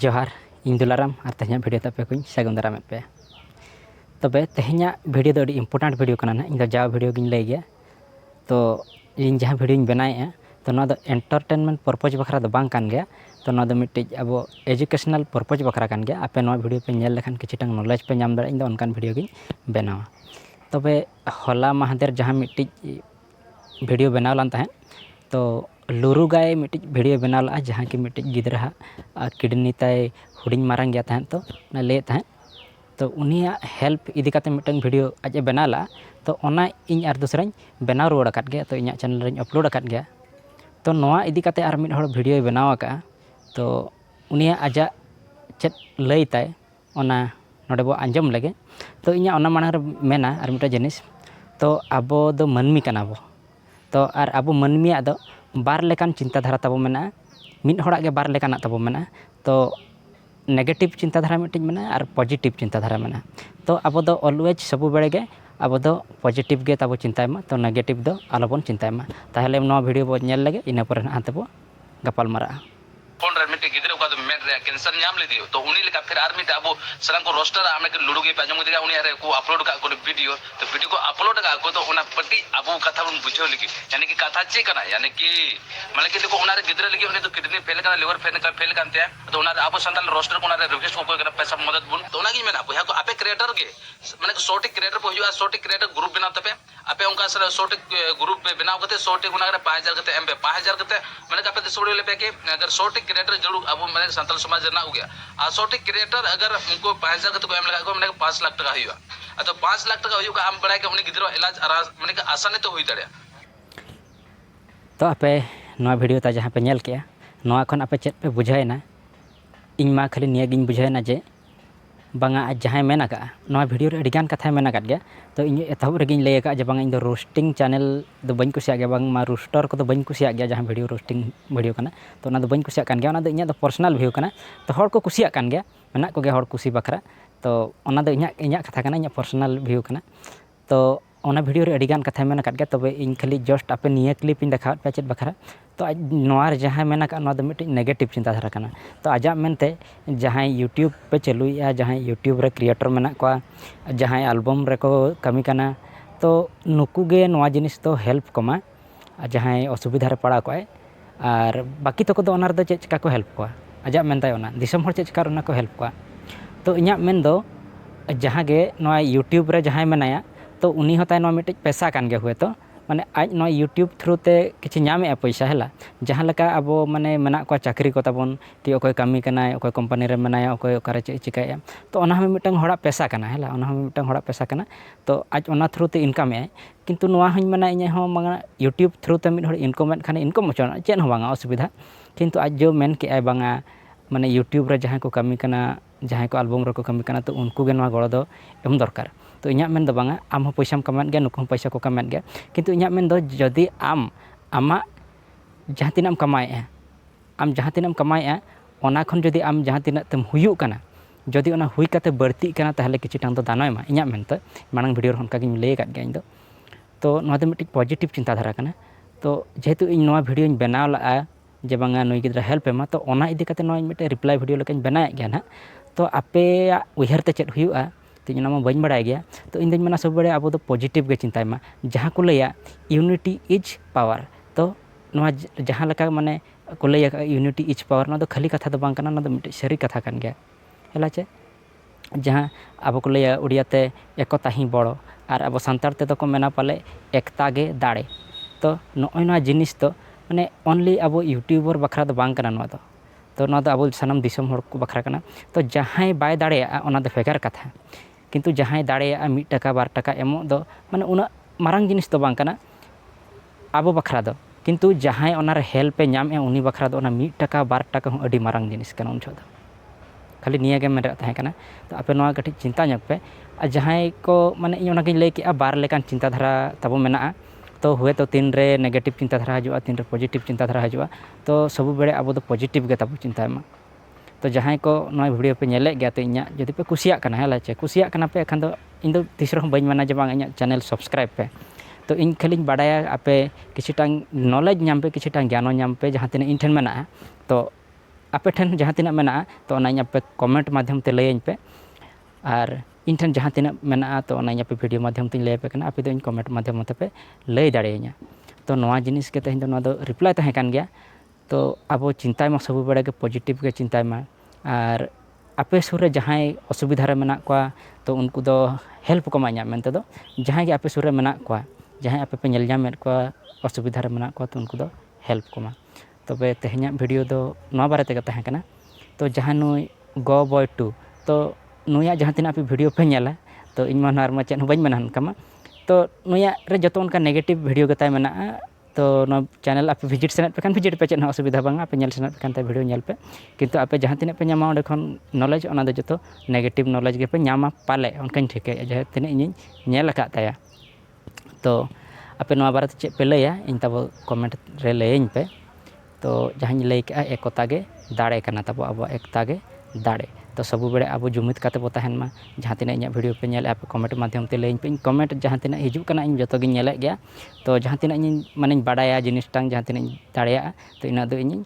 ᱡᱚᱦᱟᱨ ᱤᱧ ᱫᱩᱞᱟᱨᱟᱢ ᱟᱨ ᱛᱮᱦᱮᱧᱟᱜ ᱵᱷᱤᱰᱤᱭᱳ ᱛᱮ ᱟᱯᱮ ᱠᱚᱧ ᱥᱟᱹᱜᱩᱱ ᱫᱟᱨᱟᱢᱮᱫ ᱯᱮᱭᱟ ᱛᱚᱵᱮ ᱛᱮᱦᱮᱧᱟᱜ ᱵᱷᱤᱰᱤᱭᱳ ᱫᱚ ᱟᱹᱰᱤ ᱤᱢᱯᱳᱨᱴᱮᱱᱴ ᱵᱷᱤᱰᱤᱭᱳ ᱠᱟᱱᱟ ᱱᱟᱦᱟᱜ ᱤᱧ ᱫᱚ ᱡᱟᱣ ᱵᱷᱤᱰᱤᱭᱳ ᱜᱤᱧ ᱞᱟᱹᱭ ᱜᱮᱭᱟ ᱛᱚ ᱤᱧ ᱡᱟᱦᱟᱸ ᱵᱷᱤᱰᱤᱭᱳᱧ ᱵᱮᱱᱟᱣᱮᱫᱼᱟ ᱛᱚ ᱱᱚᱣᱟ ᱫᱚ ᱮᱱᱴᱟᱨᱴᱮᱱᱢᱮᱱᱴ ᱯᱚᱨᱯᱚᱡᱽ ᱵᱟᱠᱷᱨᱟ ᱫᱚ ᱵᱟᱝ ᱠᱟᱱ ᱜᱮᱭᱟ ᱛᱚ ᱱᱚᱣᱟ ᱫᱚ ᱢᱤᱫᱴᱤᱡ ᱟᱵᱚ ᱮᱰᱩᱠᱮᱥᱚᱱᱟᱞ ᱯᱚᱨᱯᱚᱡᱽ ᱵᱟᱠᱷᱨᱟ ᱠᱟᱱ ᱜᱮᱭᱟ ᱟᱯᱮ ᱱᱚᱣᱟ ᱵᱷᱤᱰᱤᱭᱳ ᱯᱮ ᱧᱮᱞ ᱞᱮᱠᱷᱟᱱ ᱠᱤᱪᱷᱩᱴᱟ ᱱᱚᱞᱮᱡᱽ ᱯᱮ ᱧᱟᱢ ᱫᱟᱲᱮᱭᱟᱜᱼᱟ ᱤᱧ ᱫᱚ ᱚᱱᱠᱟᱱ ᱵᱷᱤᱰᱤᱭᱳ ᱜᱤᱧ ᱵᱮᱱᱟᱣᱟ ᱛᱚᱵᱮ ᱦᱚᱞᱟ ᱢᱟᱦᱫᱮᱨ ᱡᱟᱦᱟᱸ ᱢᱤᱫᱴᱤᱡ ᱵᱷᱤᱰᱭᱳ ᱵᱮᱱᱟᱣ ᱞᱮᱱ ᱛᱟᱦᱮᱸᱫ ᱛᱳ ᱞᱩᱨᱩ ᱜᱟᱭ ᱢᱤᱫᱴᱤᱡ ᱵᱷᱤᱰᱭᱳ ᱵᱮᱱᱟᱣ ᱞᱮᱫᱼᱟᱭ ᱡᱟᱦᱟᱸᱭ ᱠᱤ ᱢᱤᱫᱴᱤᱡ ᱜᱤᱫᱽᱨᱟᱹ ᱦᱟᱸᱜ ᱟᱨ ᱠᱤᱰᱱᱤ ᱛᱟᱭ ᱦᱩᱰᱤᱧ ᱢᱟᱨᱟᱝ ᱜᱮᱭᱟ ᱛᱟᱦᱮᱸᱫ ᱛᱳ ᱚᱱᱟᱭ ᱞᱟᱹᱭᱮᱫ ᱛᱟᱦᱮᱸᱫ ᱛᱳ ᱩᱱᱤᱭᱟᱜ ᱦᱮᱞᱯ ᱤᱫᱤ ᱠᱟᱛᱮᱫ ᱢᱤᱫᱴᱟᱝ ᱵᱷᱤᱰᱭᱳ ᱟᱡ ᱮ ᱵᱮᱱᱟᱣ ᱞᱮᱫᱼᱟ ᱛᱳ ᱚᱱᱟ ᱤᱧ ᱟᱨ ᱫᱚᱥᱨᱟᱧ ᱵᱮᱱᱟᱣ ᱨᱩᱣᱟᱹᱲ ᱟᱠᱟᱫ ᱜᱮᱭᱟ ᱛᱳ ᱤᱧᱟᱹᱜ ᱪᱮᱱᱮᱞ ᱨᱤᱧ ᱟᱯᱞᱳᱰ ᱟᱠᱟᱫ ᱜᱮᱭᱟ ᱛᱳ ᱱᱚᱣᱟ ᱤᱫᱤ ᱠᱟᱛᱮᱫ ᱟᱨ ᱢᱤᱫ ᱦᱚᱲ ᱵᱷᱤᱰᱭᱳᱭ ᱵᱮᱱᱟᱣ ᱟᱠᱟᱫᱼᱟ ᱛᱳ ᱩᱱᱤᱭᱟᱜ ᱟᱡᱟᱜ ᱪᱮᱫ ᱞᱟᱹᱭ ᱛᱟᱭ ᱚᱱᱟ ᱱᱚᱰᱮ ᱵᱚᱱ ᱟᱸᱡᱚᱢ ᱞᱮᱜᱮ ᱛᱳ ᱤᱧᱟᱹᱜ ᱚᱱᱟ ᱢᱟᱲᱟᱝ ᱨᱮ ᱢᱮᱱᱟ ᱟᱨ ᱢᱤᱫᱴᱮᱱ ᱡᱤᱱᱤᱥ ᱛᱳ ᱟᱵᱚ ᱫᱚ ᱢᱟᱹᱱᱢᱤ ᱠᱟᱱᱟ ᱵᱚᱱ ᱛᱳ ᱟᱨ ᱟᱵᱚ ᱢᱟᱹᱱᱢᱤᱭᱟᱜ ᱫᱚ ᱵᱟᱨ ᱞᱮᱠᱟᱱ ᱪᱤᱱᱛᱟᱹ ᱫᱷᱟᱨᱟ ᱛᱟᱵᱚ ᱢᱮᱱᱟᱜᱼᱟ ᱢᱤᱫ ᱦᱚᱲᱟᱜ ᱜᱮ ᱵᱟᱨ ᱞᱮᱠᱟᱱᱟᱜ ᱛᱟᱵᱚ ᱢᱮᱱᱟᱜᱼᱟ ᱛᱳ ᱱᱮᱜᱮᱴᱤᱵᱷ ᱪᱤᱱᱛᱟᱹ ᱫᱷᱟᱨᱟ ᱢᱤᱫᱴᱤᱡ ᱢᱮᱱᱟᱜᱼᱟ ᱟᱨ ᱯᱚᱡᱮᱴᱤᱵᱷ ᱪᱤᱱᱛᱟᱹ ᱫᱷᱟᱨᱟ ᱢᱮᱱᱟᱜᱼᱟ ᱛᱳ ᱟᱵᱚ ᱫᱚ ᱚᱞᱣᱮᱡᱽ ᱥᱚᱵᱽ ᱵᱟᱲᱮ ᱜᱮ ᱟᱵᱚ ᱫᱚ ᱯᱚᱡᱮᱴᱤᱵᱷ ᱜᱮ ᱛᱟᱵᱚ ᱪᱤᱱᱛᱟᱹᱭ ᱢᱟ ᱛᱳ ᱱᱮᱜᱮᱴᱤᱵᱷ ᱫᱚ ᱟᱞᱚ ᱵᱚᱱ ᱪᱤᱱᱛᱟᱹᱭ ᱢᱟ ᱛᱟᱦᱚᱞᱮ ᱱᱚᱣᱟ ᱵᱷᱤᱰᱭᱳ ᱵᱚᱱ ᱧᱮᱞ ᱞᱮᱜᱮ ᱤᱱᱟᱹ ᱯᱚᱨᱮ ᱦᱟᱱᱛᱮ ᱵᱚᱱ ᱜᱟᱯᱟᱞ ᱢᱟᱨᱟᱜᱼᱟ ᱯᱷᱳᱱ ᱨᱮ ᱢᱤᱫᱴᱮᱡ ᱜᱤᱫᱽᱨᱟᱹ ᱚᱠᱟ ᱫᱚ ᱢᱮᱫ ᱨᱮᱭᱟᱜ ᱠᱮᱱᱥᱟᱨ ᱧᱟᱢ ᱞᱮᱫᱮ ᱛᱚ ᱩᱱᱤ ᱞᱮᱠᱟ ᱯᱷᱤᱨ ᱟᱨ ᱢᱤᱫᱴᱮᱡ ᱟᱵᱚ ᱥᱟᱱᱟᱢ ᱠᱚ ᱨᱳᱥᱴᱟᱨ ᱟᱜ ᱢᱤᱫᱴᱮᱡ ᱞᱩᱲᱩ ᱜᱮ ᱯᱮ ᱟᱸᱡᱚᱢ ᱠᱮᱫᱮ ᱜᱮᱭᱟ ᱩᱱᱤᱭᱟᱜ ᱨᱮ ᱠᱚ ᱟᱯᱞᱳᱰ ᱟᱠᱟᱫ ᱠᱚ ᱵᱷᱤᱰᱤᱭᱳ ᱛᱚ ᱵᱷᱤᱰᱤᱭᱳ ᱠᱚ ᱟᱯᱞᱳᱰ ᱟᱠᱟᱫ ᱠᱚ ᱛᱚ ᱚᱱᱟ ᱠᱟᱹᱴᱤᱡ ᱟᱵᱚ ᱠᱟᱛᱷᱟ ᱵᱚᱱ ᱵᱩᱡᱷᱟᱹᱣ ᱞᱟᱹᱜᱤᱫ ᱭᱟᱱᱤ ᱠᱤ ᱠᱟᱛᱷᱟ ᱪᱮᱫ ᱠᱟᱱᱟ ᱭᱟᱱᱤ ᱠᱤ ᱢᱟᱱᱮ ᱠᱤ ᱫᱮᱠᱷᱳ ᱚᱱᱟ ᱨᱮ ᱜᱤᱫᱽᱨᱟᱹ ᱞᱟᱹᱜᱤᱫ ᱩᱱᱤ ᱫᱚ ᱠᱤᱰᱱᱤ ᱯᱷᱮᱞ ᱟᱠᱟᱱᱟ ᱞᱤᱵᱷᱟᱨ ᱯᱷᱮᱞ ᱟᱠᱟᱱᱟ ᱯᱷᱮᱞ ᱟᱠᱟᱱ ᱛᱟᱭᱟ ᱟᱫᱚ ᱚᱱᱟ ᱨᱮ ᱟᱵᱚ ᱥᱟᱱᱛᱟᱲ ᱨᱳᱥᱴᱟᱨ ᱠᱚ ᱚᱱᱟ ᱨᱮ ᱨᱤᱠᱩᱭᱮᱥᱴ ᱠᱚ ᱠᱚᱭ ᱠᱟᱱᱟ ᱯᱚᱭᱥᱟ ᱢᱚᱫᱚᱫ ᱵᱚᱱ ᱛᱚ ᱚᱱᱟ ᱜᱤᱧ ᱢᱮᱱᱟ ᱵᱚᱭᱦᱟ ᱠᱚ ᱟᱯᱮ ᱠᱨᱤᱭᱮᱴᱚᱨ ᱜᱮ ᱢᱟᱱᱮ ᱥᱚ ᱴᱤ ᱠᱨᱤᱭᱮᱴᱚᱨ ᱯᱮ ᱦᱩᱭᱩᱜᱼᱟ ᱥᱚ ᱴᱤ ᱠᱨᱤᱭᱮᱴᱚᱨ ᱜᱨᱩᱯ ᱵᱮᱱᱟᱣ ᱛᱟᱯᱮ ᱟᱯᱮ ᱚᱱᱠᱟ ᱥᱮ ᱥᱚᱴ ᱜᱨᱩᱯ ᱯᱮ ᱵᱮᱱᱟᱣ ᱠᱟᱛᱮ ᱥᱚᱴ ᱚᱱᱟ ᱠᱟᱛᱮ ᱯᱟᱸᱪ ᱦᱟᱡᱟᱨ ᱠᱟᱛᱮ ᱮᱢ ᱯᱮ ᱯᱟᱸᱪ ᱦᱟᱡᱟᱨ ᱠᱟᱛᱮ ᱢᱟᱱᱮ ᱟᱯᱮ ᱫᱤᱥᱚᱢ ᱨᱮ ᱞᱮᱯᱮ ᱠᱮ ᱟᱜᱟᱨ ᱥᱚᱴ ᱠᱨᱤᱭᱮᱴᱟᱨ ᱡᱟᱹᱨᱩᱲ ᱟᱵᱚ ᱢᱟᱱᱮ ᱥᱟᱱᱛᱟᱲ ᱥᱚᱢᱟᱡᱽ ᱨᱮᱱᱟᱜ ᱜᱮ ᱟᱨ ᱥᱚᱴ ᱠᱨᱤᱭᱮᱴᱟᱨ ᱟᱜᱟᱨ ᱩᱱᱠᱩ ᱯᱟᱸᱪ ᱦᱟᱡᱟᱨ ᱠᱟᱛᱮ ᱠᱚ ᱮᱢ ᱞᱮᱠᱷᱟᱱ ᱠᱚ ᱢᱟᱱᱮ ᱯᱟᱸᱪ ᱞᱟᱠᱷ ᱴᱟᱠᱟ ᱦᱩᱭᱩᱜᱼᱟ ᱟᱫᱚ ᱯᱟᱸᱪ ᱞᱟᱠᱷ ᱴᱟᱠᱟ ᱦᱩᱭᱩᱜ ᱟᱢ ᱵᱟᱲᱟᱭ ᱠᱮᱫ ᱩᱱᱤ ᱜᱤᱫᱽᱨᱟᱹ ᱤᱞᱟᱡᱽ ᱟᱨ ᱢᱟᱱᱮ ᱟᱥᱟᱱᱤ ᱛᱮ ᱦᱩᱭ ᱫᱟᱲᱮᱭᱟᱜᱼᱟ ᱛᱚ ᱟᱯᱮ ᱱᱚᱣᱟ ᱵᱷᱤᱰᱤᱭᱳ ᱛᱟ ᱡᱟᱦᱟᱸ ᱯᱮ ᱧᱮᱞ ᱠᱮᱜᱼᱟ ᱱᱚᱣᱟ ᱠᱷᱚᱱ ᱟᱯᱮ ᱪᱮᱫ ᱯᱮ ᱵᱩᱡᱷᱟᱹᱣᱮᱱᱟ ᱤᱧ ᱢᱟ ᱠᱷᱟᱹᱞᱤ ᱱᱤᱭᱟᱹ ᱜᱤᱧ ᱵᱩᱡᱷᱟᱹᱣᱮᱱᱟ ᱡᱮ ᱵᱟᱝᱟ ᱟᱡ ᱡᱟᱦᱟᱸᱭ ᱢᱮᱱ ᱟᱠᱟᱫᱼᱟ ᱱᱚᱣᱟ ᱵᱷᱤᱰᱤᱭᱳ ᱨᱮ ᱟᱹᱰᱤᱜᱟᱱ ᱠᱟᱛᱷᱟᱭ ᱢᱮᱱ ᱟᱠᱟᱫ ᱜᱮᱭᱟ ᱛᱚ ᱤᱧ ᱮᱛᱚᱦᱚᱵ ᱨᱮᱜᱮᱧ ᱞᱟᱹᱭ ᱟᱠᱟᱫᱼᱟ ᱡᱮ ᱵᱟᱝᱟ ᱤᱧᱫᱚ ᱨᱳᱥᱴᱤᱝ ᱪᱮᱱᱮᱞ ᱫᱚ ᱵᱟᱹᱧ ᱠᱩᱥᱤᱭᱟᱜ ᱜᱮᱭᱟ ᱵᱟᱝᱢᱟ ᱨᱩᱥᱴᱟᱨ ᱠᱚᱫᱚ ᱵᱟᱹᱧ ᱠᱩᱥᱤᱭᱟᱜ ᱜᱮᱭᱟ ᱡᱟᱦᱟᱸ ᱵᱷᱤᱰᱤᱭᱳ ᱨᱳᱥᱴᱤᱝ ᱵᱷᱤᱰᱤᱭᱳ ᱠᱟᱱᱟ ᱛᱚ ᱚᱱᱟᱫᱚ ᱵᱟᱹᱧ ᱠᱩᱥᱤᱭᱟᱜ ᱠᱟᱱ ᱜᱮᱭᱟ ᱚᱱᱟᱫᱚ ᱤᱧᱟᱹᱜ ᱫᱚ ᱯᱟᱨᱥᱳᱱᱟᱞ ᱵᱷᱤᱭᱩ ᱠᱟᱱᱟ ᱛᱚ ᱦᱚᱲ ᱠᱚ ᱠᱩᱥᱤᱭᱟᱜ ᱠᱟᱱ ᱜᱮᱭᱟ ᱢᱮᱱᱟᱜ ᱠᱚᱜᱮᱭᱟ ᱦᱚᱲ ᱠᱩᱥᱤ ᱵᱟᱠᱷᱨᱟ ᱛᱚ ᱚᱱᱟᱫᱚ ᱤᱧᱟᱹᱜ ᱤᱧᱟᱹᱜ ᱠᱟᱛᱷᱟ ᱠᱟᱱᱟ ᱤᱧᱟᱹᱜ ᱯᱟᱨᱥᱳᱱᱟᱞ ᱵᱷᱤᱭᱩ ᱠᱟᱱᱟ ᱛᱚ ᱚᱱᱟ ᱵᱷᱤᱰᱭᱳ ᱨᱮ ᱟᱹᱰᱤᱜᱟᱱ ᱠᱟᱛᱷᱟᱭ ᱢᱮᱱ ᱟᱠᱟᱫ ᱜᱮᱭᱟ ᱛᱚᱵᱮ ᱤᱧ ᱠᱷᱟᱹᱞᱤ ᱡᱟᱥᱴ ᱟᱯᱮ ᱱᱤᱭᱟᱹ ᱠᱞᱤᱯ ᱤᱧ ᱫᱮᱠᱷᱟᱣᱟᱫ ᱯᱮᱭᱟ ᱪᱮᱫ ᱵᱟᱠᱷᱨᱟ ᱛᱚ ᱟᱡ ᱱᱚᱣᱟ ᱨᱮ ᱡᱟᱦᱟᱸᱭ ᱢᱮᱱ ᱟᱠᱟᱫ ᱱᱚᱣᱟ ᱫᱚ ᱢᱤᱫᱴᱤᱡ ᱱᱮᱜᱮᱴᱤᱵᱷ ᱪᱤᱱᱛᱟ ᱫᱷᱟᱨᱟ ᱠᱟᱱᱟ ᱛᱚ ᱟᱡᱟᱜ ᱢᱮᱱᱛᱮ ᱡᱟᱦᱟᱸᱭ ᱤᱭᱩᱴᱩᱵᱽ ᱯᱮ ᱪᱟᱹᱞᱩᱭᱮᱜᱼᱟ ᱡᱟᱦᱟᱸᱭ ᱤᱭᱩᱴᱩᱵᱽ ᱨᱮ ᱠᱨᱤᱭᱮᱴᱚᱨ ᱢᱮᱱᱟᱜ ᱠᱚᱣᱟ ᱡᱟᱦᱟᱸᱭ ᱟᱞᱵᱟᱢ ᱨᱮᱠᱚ ᱠᱟᱹᱢᱤ ᱠᱟᱱᱟ ᱛᱚ ᱱᱩᱠᱩ ᱜᱮ ᱱᱚᱣᱟ ᱡᱤᱱᱤᱥ ᱫᱚ ᱦᱮᱞᱯ ᱠᱚᱢᱟ ᱟᱨ ᱡᱟᱦᱟᱸᱭ ᱚᱥᱩᱵᱤᱫᱷᱟ ᱨᱮ ᱯᱟᱲᱟᱣ ᱠᱚᱜᱼᱟᱭ ᱟᱨ ᱵᱟᱹᱠᱤ ᱛᱟᱠᱚ ᱫᱚ ᱚᱱᱟ ᱨᱮᱫᱚ ᱪᱮᱫ ᱪᱤᱠᱟᱹ ᱠᱚ ᱦᱮᱞᱯ ᱠᱚᱣᱟ ᱟᱡᱟᱜ ᱢᱮᱱ ᱛᱟᱭ ᱚᱱᱟ ᱫᱤᱥᱚᱢ ᱦᱚᱲ ᱪᱮᱫ ᱪᱤᱠᱟᱹ ᱨᱮᱱᱟᱜ ᱠᱚ ᱦᱮᱞᱯ ᱠᱚᱣᱟ ᱛᱳ ᱤᱧᱟᱹᱜ ᱢᱮᱱ ᱫᱚ ᱡᱟᱦᱟᱸ ᱜᱮ ᱱᱚᱣᱟ ᱤᱭᱩᱴᱩᱵᱽ ᱨᱮ ᱡᱟᱦᱟᱸᱭ ᱢᱮᱱᱟᱭᱟ ᱛᱳ ᱩᱱᱤ ᱦᱚᱸ ᱛᱟᱭ ᱱᱚᱣᱟ ᱢᱤᱫᱴᱤᱡ ᱯᱮᱥᱟ ᱠᱟᱱ ᱜᱮᱭᱟ ᱦᱳᱭᱛᱳ ᱢᱟᱱᱮ ᱟᱡ ᱱᱚᱣᱟ ᱤᱭᱩᱴᱩᱵᱽ ᱛᱷᱨᱩ ᱛᱮ ᱠᱤᱪᱷᱩ ᱧᱟᱢ ᱮᱜᱼᱟᱭ ᱯᱚᱭᱥᱟ ᱦᱮᱞᱟ ᱡᱟᱦᱟᱸ ᱞᱮᱠᱟ ᱟᱵᱚ ᱢᱟᱱᱮ ᱢᱮᱱᱟᱜ ᱠᱚᱣᱟ ᱪᱟᱹᱠᱨᱤ ᱠᱚ ᱛᱟᱵᱚᱱ ᱠᱤ ᱚᱠᱚᱭ ᱠᱟᱹᱢᱤ ᱠᱟᱱᱟᱭ ᱚᱠᱚᱭ ᱠᱳᱢᱯᱟᱱᱤ ᱨᱮ ᱢᱮᱱᱟᱭᱟ ᱚᱠᱚᱭ ᱚᱠᱟᱨᱮ ᱪᱮᱫ ᱮ ᱪᱤᱠᱟᱹᱭᱮᱜᱼᱟ ᱛᱳ ᱚᱱᱟ ᱦᱚᱸ ᱢᱤᱫᱴᱟᱝ ᱦᱚᱲᱟᱜ ᱯᱮᱥᱟ ᱠᱟᱱᱟ ᱦᱮᱞᱟ ᱚᱱᱟ ᱦᱚᱸ ᱢᱤᱫᱴᱟᱝ ᱦᱚᱲᱟᱜ ᱯᱮᱥᱟ ᱠᱟᱱᱟ ᱛᱳ ᱟᱡ ᱚᱱᱟ ᱛᱷᱨᱩ ᱛᱮ ᱤᱱᱠᱟᱢ ᱮᱜᱼᱟᱭ ᱠᱤᱱᱛᱩ ᱱᱚᱣᱟ ᱦᱚᱸᱧ ᱢᱮᱱᱟ ᱤᱧᱟᱹᱜ ᱦᱚᱸ ᱵᱟᱝᱟ ᱤᱭᱩᱴᱩᱵᱽ ᱛᱷᱨᱩ ᱛᱮ ᱢᱤᱫ ᱦᱚᱲ ᱤᱱᱠᱟᱢᱮᱫ ᱠᱷᱟᱱᱮ ᱤᱱᱠᱟᱢ ᱦᱚᱪᱚᱣᱟᱱ ᱪᱮᱫ ᱦᱚᱸ ᱵᱟᱝᱟ ᱚᱥᱩᱵᱤᱫᱷᱟ ᱠᱤᱱᱛᱩ ᱟᱡ ᱡᱮ ᱢᱮᱱ ᱠᱮᱫᱟᱭ ᱵᱟᱝᱟ ᱢᱟᱱᱮ ᱤᱭᱩᱴᱩᱵᱽ ᱨᱮ ᱡᱟᱦᱟᱸᱭ ᱠᱚ ᱠᱟᱹᱢᱤ ᱠᱟᱱᱟ ᱡᱟᱦᱟᱸᱭ ᱠᱚ ᱟᱞᱵᱚᱢ ᱨᱮᱠᱚ ᱠᱟᱹᱢᱤ ᱠᱟᱱᱟ ᱛᱳ ᱩᱱᱠᱩ ᱜᱮ ᱱᱚᱣᱟ ᱜᱚᱲᱚ ᱫᱚ ᱮᱢ ᱫᱚᱨᱠᱟᱨ ᱛᱳ ᱤᱧᱟᱹᱜ ᱢᱮᱱᱫᱚ ᱵᱟᱝᱟ ᱟᱢ ᱦᱚᱸ ᱯᱚᱭᱥᱟᱢ ᱠᱟᱢᱟᱣᱮᱫ ᱜᱮᱭᱟ ᱱᱩᱠᱩ ᱦᱚᱸ ᱯᱚᱭᱥᱟ ᱠᱚ ᱠᱟᱢᱟᱣᱮᱫ ᱜᱮᱭᱟ ᱠᱤᱱᱛᱩ ᱤᱧᱟᱹᱜ ᱢᱮᱱᱫᱚ ᱡᱩᱫᱤ ᱟᱢ ᱟᱢᱟᱜ ᱡᱟᱦᱟᱸ ᱛᱤᱱᱟᱹᱜ ᱮᱢ ᱠᱟᱢᱟᱣᱮᱫᱼᱟ ᱟᱢ ᱡᱟᱦᱟᱸ ᱛᱤᱱᱟᱹᱜ ᱮᱢ ᱠᱟᱢᱟᱣᱮᱜᱼᱟ ᱚᱱᱟ ᱠᱷᱚᱱ ᱡᱩᱫᱤ ᱟᱢ ᱡᱟᱦᱟᱸ ᱛᱤᱱᱟᱹᱜ ᱛᱮᱢ ᱦᱩᱭᱩᱜ ᱠᱟᱱᱟ ᱡᱩᱫᱤ ᱚᱱᱟ ᱦᱩᱭ ᱠᱟᱛᱮᱫ ᱵᱟᱹᱲᱛᱤᱜ ᱠᱟᱱᱟ ᱛᱟᱦᱚᱞᱮ ᱠᱤᱪᱷᱩ ᱴᱟᱝ ᱫᱚ ᱫᱟᱱᱮ ᱮᱢᱟ ᱤᱧᱟᱹᱜ ᱢᱮᱱᱛᱮ ᱢᱟᱲᱟᱝ ᱵᱷᱤᱰᱭᱳ ᱨᱮᱦᱚᱸ ᱚᱱᱠᱟᱜᱮᱧ ᱞᱟᱹᱭ ᱟᱠᱟᱫ ᱜᱮᱭᱟ ᱤᱧᱫᱚ ᱛᱳ ᱱᱚᱣᱟ ᱫᱚ ᱢᱤᱫᱴᱤᱡ ᱯᱚᱡᱮᱴᱤᱵᱷ ᱪᱤᱱᱛᱟ ᱫᱷᱟᱨᱟ ᱠᱟᱱᱟ ᱛᱳ ᱡᱮᱦᱮᱛᱩ ᱤᱧ ᱱᱚᱣᱟ ᱵᱷᱤᱰᱭᱳᱧ ᱵᱮᱱᱟᱣ ᱞᱟᱜᱼᱟ ᱡᱮ ᱵᱟᱝᱟ ᱱᱩᱭ ᱜᱤᱫᱽᱨᱟᱹ ᱦᱮᱞᱯ ᱮᱢᱟ ᱛᱳ ᱚᱱᱟ ᱤᱫᱤ ᱠᱟᱛᱮᱫ ᱱᱚᱣᱟ ᱢᱤᱫᱴᱮᱡ ᱨᱤᱯᱞᱟᱭ ᱵᱷᱤᱰᱭᱳ ᱞᱮᱠᱟᱧ ᱵᱮᱱᱟᱣᱮᱫ ᱜᱮᱭᱟ ᱦᱟᱸᱜ ᱛᱳ ᱟᱯᱮᱭᱟᱜ ᱩᱭᱦᱟᱹᱨ ᱛᱮ ᱪᱮᱫ ᱦᱩᱭᱩᱜᱼᱟ ᱛᱚ ᱤᱧ ᱚᱱᱟᱢᱟ ᱵᱟᱹᱧ ᱵᱟᱲᱟᱭ ᱜᱮᱭᱟ ᱛᱚ ᱤᱧᱫᱚᱧ ᱢᱮᱱᱟ ᱥᱚᱵ ᱵᱟᱲᱮ ᱟᱵᱚ ᱫᱚ ᱯᱚᱡᱮᱴᱤᱵᱷ ᱜᱮ ᱪᱤᱱᱛᱟᱭ ᱢᱟ ᱡᱟᱦᱟᱸ ᱠᱚ ᱞᱟᱹᱭᱟ ᱤᱭᱩᱱᱤᱴᱤ ᱤᱡᱽ ᱯᱟᱣᱟᱨ ᱛᱚ ᱱᱚᱣᱟ ᱡᱟᱦᱟᱸ ᱞᱮᱠᱟ ᱢᱟᱱᱮ ᱠᱚ ᱞᱟᱹᱭ ᱟᱠᱟᱫᱼᱟ ᱤᱭᱩᱱᱤᱴᱤ ᱤᱡᱽ ᱯᱟᱣᱟᱨ ᱱᱚᱣᱟ ᱫᱚ ᱠᱷᱟᱹᱞᱤ ᱠᱟᱛᱷᱟ ᱫᱚ ᱵᱟᱝ ᱠᱟᱱᱟ ᱱᱚᱣᱟ ᱫᱚ ᱢᱤᱫᱴᱤᱡ ᱥᱟᱹᱨᱤ ᱠᱟᱛᱷᱟ ᱠᱟᱱ ᱜᱮᱭᱟ ᱦᱮᱞᱟ ᱪᱮ ᱡᱟᱦᱟᱸ ᱟᱵᱚ ᱠᱚ ᱞᱟᱹᱭᱟ ᱩᱲᱤᱭᱟ ᱛᱮ ᱮᱠᱚᱛᱟ ᱦᱤ ᱵᱚᱲᱚ ᱟᱨ ᱟᱵᱚ ᱥᱟᱱᱛᱟᱲ ᱛᱮᱫᱚ ᱠᱚ ᱢᱮᱱᱟ ᱯᱟᱞᱮ ᱮᱠᱛᱟ ᱜᱮ ᱫᱟᱲᱮ ᱛᱚ ᱱᱚᱜᱼᱚᱸᱭ ᱱᱚᱣᱟ ᱡᱤᱱᱤᱥ ᱫᱚ ᱢᱟᱱᱮ ᱚᱱᱞᱤ ᱟᱵᱚ ᱤᱭᱩᱴᱩᱵᱟᱨ ᱵᱟᱠᱷᱨᱟ ᱫᱚ ᱵᱟᱝ ᱠᱟᱱᱟ ᱱᱚᱣᱟ ᱫᱚ ᱛᱚ ᱱᱚᱣᱟ ᱫᱚ ᱟᱵᱚ ᱥᱟᱱᱟᱢ ᱫᱤᱥᱚᱢ ᱦᱚᱲ ᱠᱚ ᱵᱟᱠᱷᱨᱟ ᱠᱟᱱᱟ ᱛᱚ ᱡᱟᱦᱟᱸᱭ ᱵᱟᱭ ᱫᱟᱲᱮᱭᱟᱜᱼᱟ ᱚᱱᱟ ᱫᱚ ᱵᱷᱮᱜᱟᱨ ᱠᱟᱛᱷᱟ ᱠᱤᱱᱛᱩ ᱡᱟᱦᱟᱸᱭ ᱫᱟᱲᱮᱭᱟᱜᱼᱟ ᱢᱤᱫ ᱴᱟᱠᱟ ᱵᱟᱨ ᱴᱟᱠᱟ ᱮᱢᱚᱜ ᱫᱚ ᱢᱟᱱᱮ ᱩᱱᱟᱹᱜ ᱢᱟᱨᱟᱝ ᱡᱤᱱᱤᱥ ᱫᱚ ᱵᱟᱝ ᱠᱟᱱᱟ ᱟᱵᱚ ᱵᱟᱠᱷᱨᱟ ᱫᱚ ᱠᱤᱱᱛᱩ ᱡᱟᱦᱟᱸᱭ ᱚᱱᱟᱨᱮ ᱦᱮᱞᱯ ᱮ ᱧᱟᱢᱮᱜᱼᱟ ᱩᱱᱤ ᱵᱟᱠᱷᱨᱟ ᱫᱚ ᱚᱱᱟ ᱢᱤᱫ ᱴᱟᱠᱟ ᱵᱟᱨ ᱴᱟᱠᱟ ᱦᱚᱸ ᱟᱹᱰᱤ ᱢᱟᱨᱟᱝ ᱡᱤᱱᱤᱥ ᱠᱟᱱᱟ ᱩᱱ ᱡᱚᱦᱚᱜ ᱫᱚ ᱠᱷᱟᱹᱞᱤ ᱱᱤᱭᱟᱹ ᱜᱮ ᱢᱮᱱ ᱨᱮᱭᱟᱜ ᱛᱟᱦᱮᱸ ᱠᱟᱱᱟ ᱛᱚ ᱟᱯᱮ ᱱᱚᱣᱟ ᱠᱟᱹᱴᱤᱡ ᱪᱤᱱᱛᱟ ᱧᱚᱜᱽ ᱯᱮ ᱟᱨ ᱡᱟᱦᱟᱸᱭ ᱠᱚ ᱢᱟᱱᱮ ᱤᱧ ᱚᱱᱟ ᱜᱤᱧ ᱞᱟᱹᱭ ᱠᱮᱜᱼᱟ ᱵᱟᱨ ᱞᱮᱠᱟᱱ ᱪᱤᱱᱛᱟ ᱫᱷᱟᱨᱟ ᱛᱟᱵᱚ ᱢᱮᱱᱟᱜᱼᱟ ᱛᱚ ᱦᱳᱭᱛᱳ ᱛᱤᱱ ᱨᱮ ᱱᱮᱜᱮᱴᱤᱵᱷ ᱪᱤᱱᱛᱟ ᱫᱷᱟᱨᱟ ᱦᱤᱡᱩᱜᱼᱟ ᱛᱤᱱ ᱨᱮ ᱯᱚᱡᱮᱴᱤᱵᱷ ᱪᱤᱱᱛᱟ ᱫᱷᱟᱨᱟ ᱦᱤᱡᱩᱜᱼᱟ ᱛᱚ ᱥᱚᱵᱩ ᱵᱮᱲᱮ ᱟᱵᱚ ᱫᱚ ᱯᱚᱡᱤᱴᱤᱵᱷ ᱜᱮ ᱛᱟᱵᱚ ᱪᱤᱱᱛᱟᱹ ᱢᱟ ᱛᱚ ᱡᱟᱦᱟᱸᱭ ᱠᱚ ᱱᱚᱣᱟ ᱵᱷᱤᱰᱤᱭᱳ ᱯᱮ ᱧᱮᱞᱮᱫ ᱜᱮᱭᱟ ᱛᱚ ᱤᱧᱟᱹᱜ ᱡᱩᱫᱤ ᱯᱮ ᱠᱩᱥᱤᱭᱟᱜ ᱠᱟᱱᱟ ᱦᱮᱸ ᱞᱟᱪᱮ ᱠᱩᱥᱤᱭᱟᱜ ᱠᱟᱱᱟ ᱯᱮ ᱮᱱᱠᱷᱟᱱ ᱫᱚ ᱤᱧ ᱫᱚ ᱛᱤᱥ ᱨᱮᱦᱚᱸ ᱵᱟᱹᱧ ᱢᱮᱱᱟ ᱡᱮ ᱵᱟᱝ ᱤᱧᱟᱹᱜ ᱪᱮᱱᱮᱞ ᱥᱟᱵᱥᱠᱨᱟᱭᱤᱵᱽ ᱯᱮ ᱛᱚ ᱤᱧ ᱠᱷᱟᱹᱞᱤᱧ ᱵᱟᱰᱟᱭᱟ ᱟᱯᱮ ᱠᱤᱪᱷᱩᱴᱟᱝ ᱱᱚᱞᱮᱡᱽ ᱧᱟᱢ ᱯᱮ ᱠᱤᱪᱷᱩᱴᱟᱝ ᱜᱮᱭᱟᱱ ᱦᱚᱸ ᱧᱟᱢ ᱯᱮ ᱡᱟᱦᱟᱸ ᱛᱤᱱᱟᱹᱜ ᱤᱧ ᱴᱷᱮᱱ ᱢᱮᱱᱟᱜᱼᱟ ᱛᱚ ᱟᱯᱮ ᱴᱷᱮᱱ ᱡᱟᱦᱟᱸ ᱛᱤᱱᱟᱹᱜ ᱢᱮᱱᱟᱜᱼᱟ ᱛᱚ ᱚᱱᱟ ᱤᱧ ᱟᱯᱮ ᱠᱚᱢᱮᱱᱴ ᱢᱟᱫᱽᱫᱷᱚᱢ ᱛᱮ ᱞᱟᱹᱭᱟᱹᱧ ᱯᱮ ᱟᱨ ᱤᱧ ᱴᱷᱮᱱ ᱡᱟᱦᱟᱸ ᱛᱤᱱᱟᱹᱜ ᱢᱮᱱᱟᱜᱼᱟ ᱛᱚ ᱚᱱᱟ ᱤᱧ ᱟᱯᱮ ᱵᱷᱤᱰᱭᱳ ᱢᱟᱫᱽᱫᱷᱚᱢ ᱛᱮᱧ ᱞᱟᱹᱭ ᱟᱯᱮ ᱠᱟᱱᱟ ᱟᱯᱮ ᱫᱚ ᱤᱧ ᱠᱚᱢᱮᱱᱴ ᱢᱟᱫᱽᱫᱷᱚᱢ ᱛᱮᱯᱮ ᱞᱟᱹᱭ ᱫᱟᱲᱮᱭᱤᱧᱟ ᱛᱚ ᱱᱚᱣᱟ ᱡᱤᱱᱤᱥ ᱜᱮ ᱛᱮᱦᱮᱧ ᱫᱚ ᱱᱚᱣᱟ ᱫᱚ ᱨᱤᱯᱞᱟᱭ ᱛᱟᱦᱮᱸ ᱠᱟᱱ ᱜᱮᱭᱟ ᱛᱚ ᱟᱵᱚ ᱪᱤᱱᱛᱟᱭ ᱢᱟ ᱥᱚᱵᱽ ᱵᱟᱲᱮ ᱜᱮ ᱯᱚᱡᱮᱴᱤᱵᱽ ᱜᱮ ᱪᱤᱱᱛᱟᱭ ᱢᱟ ᱟᱨ ᱟᱯᱮ ᱥᱩᱨ ᱨᱮ ᱡᱟᱦᱟᱸᱭ ᱚᱥᱩᱵᱤᱫᱷᱟ ᱨᱮ ᱢᱮᱱᱟᱜ ᱠᱚᱣᱟ ᱛᱚ ᱩᱱᱠᱩ ᱫᱚ ᱦᱮᱞᱯ ᱠᱚᱢᱟ ᱤᱧᱟᱹᱜ ᱢᱮᱱ ᱛᱮᱫᱚ ᱡᱟᱦᱟᱸᱭ ᱜᱮ ᱟᱯᱮ ᱥᱩᱨ ᱨᱮ ᱢᱮᱱᱟᱜ ᱠᱚᱣᱟ ᱡᱟᱦᱟᱸᱭ ᱟᱯᱮ ᱯᱮ ᱧᱮᱞ ᱧᱟᱢᱮᱫ ᱠᱚᱣᱟ ᱚᱥᱩᱵᱤᱫᱷᱟ ᱨᱮ ᱢᱮᱱᱟᱜ ᱠᱚᱣᱟ ᱛᱚ ᱩᱱᱠᱩ ᱫᱚ ᱦᱮᱞᱯ ᱠᱚᱢᱟ ᱛᱚᱵᱮ ᱛᱮᱦᱮᱧᱟᱜ ᱵᱷᱤᱰᱤᱭᱳ ᱫᱚ ᱱᱚᱣᱟ ᱵᱟᱨᱮ ᱛᱮᱜᱮ ᱛᱟᱦᱮᱸ ᱠᱟᱱᱟ ᱛᱚ ᱡᱟᱦᱟᱸ ᱱᱩᱭ ᱜᱚ ᱵᱚᱭ ᱴᱩ ᱛᱚ ᱱᱩᱭᱟᱜ ᱡᱟᱦᱟᱸ ᱛᱤᱱᱟᱹᱜ ᱟᱯᱮ ᱵᱷᱤᱰᱤᱭᱳ ᱯᱮ ᱧᱮᱞᱟ ᱛᱚ ᱤᱧ ᱢᱟ ᱱᱚᱣᱟ ᱨᱮᱢᱟ ᱪᱮᱫ ᱦᱚᱸ ᱵᱟᱹᱧ ᱢᱮᱱᱟ ᱚᱱᱠᱟ ᱢᱟ ᱛᱚ ᱱᱩᱭᱟᱜ ᱨᱮ ᱡᱚᱛᱚ ᱚᱱᱠᱟ ᱱᱮᱜᱮᱴᱤᱵᱷ ᱵᱷᱤᱰᱤᱭᱳ ᱜᱮᱛᱟᱭ ᱢᱮᱱᱟᱜᱼᱟ ᱛᱚ ᱱᱚᱣᱟ ᱪᱮᱱᱮᱞ ᱟᱯᱮ ᱵᱷᱤᱡᱤᱴ ᱥᱟᱱᱟᱭᱮᱫ ᱯᱮᱠᱷᱟᱱ ᱵᱷᱤᱡᱤᱴ ᱯᱮ ᱪᱮᱫ ᱦᱚᱸ ᱚᱥᱩᱵᱤᱫᱷᱟ ᱵᱟᱝᱟ ᱟᱯᱮ ᱧᱮᱞ ᱥᱟᱱᱟᱭᱮᱫ ᱯᱮᱠᱷᱟᱱ ᱛᱟᱭᱟᱜ ᱵᱷᱤᱰᱤᱭᱳ ᱧᱮᱞ ᱯᱮ ᱠᱤᱱᱛᱩ ᱟᱯᱮ ᱡᱟᱦᱟᱸ ᱛᱤᱱᱟᱹᱜ ᱯᱮ ᱧᱟᱢᱟ ᱚᱸᱰᱮ ᱠᱷᱚᱱ ᱱᱚᱞᱮᱡᱽ ᱚᱱᱟ ᱫᱚ ᱡᱚᱛᱚ ᱱᱮᱜᱮᱴᱤᱵᱷ ᱱᱚᱞᱮᱡᱽ ᱜᱮᱯᱮ ᱧᱟᱢᱟ ᱯᱟᱞᱮᱫ ᱚᱱᱠᱟᱧ ᱴᱷᱤᱠᱟᱹᱭᱮᱫᱼᱟ ᱡᱟᱦᱟᱸ ᱛᱤᱱᱟᱹᱜ ᱤᱧᱤᱧ ᱧᱮᱞ ᱟᱠᱟᱫ ᱛᱟᱭᱟ ᱛᱚ ᱟᱯᱮ ᱱᱚᱣᱟ ᱵᱟᱨᱮᱛᱮ ᱪᱮᱫ ᱯᱮ ᱞᱟᱹᱭᱟ ᱤᱧ ᱛᱟᱵᱚ ᱠᱚᱢᱮᱱᱴ ᱨᱮ ᱞᱟᱹᱭᱟᱹᱧ ᱯᱮ ᱛᱚ ᱡᱟᱦᱟᱧ ᱞᱟᱹᱭ ᱠᱮᱜᱼᱟ ᱮᱠᱚᱛᱟ ᱜᱮ ᱫᱟᱲᱮ ᱠᱟᱱᱟ ᱛᱟᱵᱚ ᱟᱵᱚᱣᱟᱜ ᱮᱠᱛᱟ ᱜᱮ ᱫᱟᱲᱮ ᱛᱚ ᱥᱚᱵ ᱵᱟᱲᱮ ᱟᱵᱚ ᱡᱩᱢᱤᱫ ᱠᱟᱛᱮ ᱵᱚ ᱛᱟᱦᱮᱱ ᱢᱟ ᱡᱟᱦᱟᱸ ᱛᱤᱱᱟᱹᱜ ᱤᱧᱟᱹᱜ ᱵᱷᱤᱰᱭᱳ ᱯᱮ ᱧᱮᱞᱮᱜᱼᱟ ᱯᱮ ᱠᱚᱢᱮᱱᱴ ᱢᱟᱫᱽᱫᱷᱚᱢ ᱛᱮ ᱞᱟᱹᱭᱟᱹᱧ ᱯᱮ ᱤᱧ ᱠᱚᱢᱮᱱᱴ ᱡᱟᱦᱟᱸ ᱛᱤᱱᱟᱹᱜ ᱦᱤᱡᱩᱜ ᱠᱟᱱᱟ ᱤᱧ ᱡᱚᱛᱚ ᱜᱮᱧ ᱧᱮᱞᱮᱜ ᱜᱮᱭᱟ ᱛᱚ ᱡᱟᱦᱟᱸ ᱛᱤᱱᱟᱹᱜ ᱤᱧ ᱢᱟᱱᱮᱧ ᱵᱟᱰᱟᱭᱟ ᱡᱤᱱᱤᱥᱴᱟᱝ ᱡᱟᱦᱟᱸ ᱛᱤᱱᱟᱹᱜ ᱤᱧ ᱫᱟᱲᱮᱭᱟᱜᱼᱟ ᱛᱚ ᱤᱱᱟᱹᱜ ᱫᱚ ᱤᱧᱤᱧ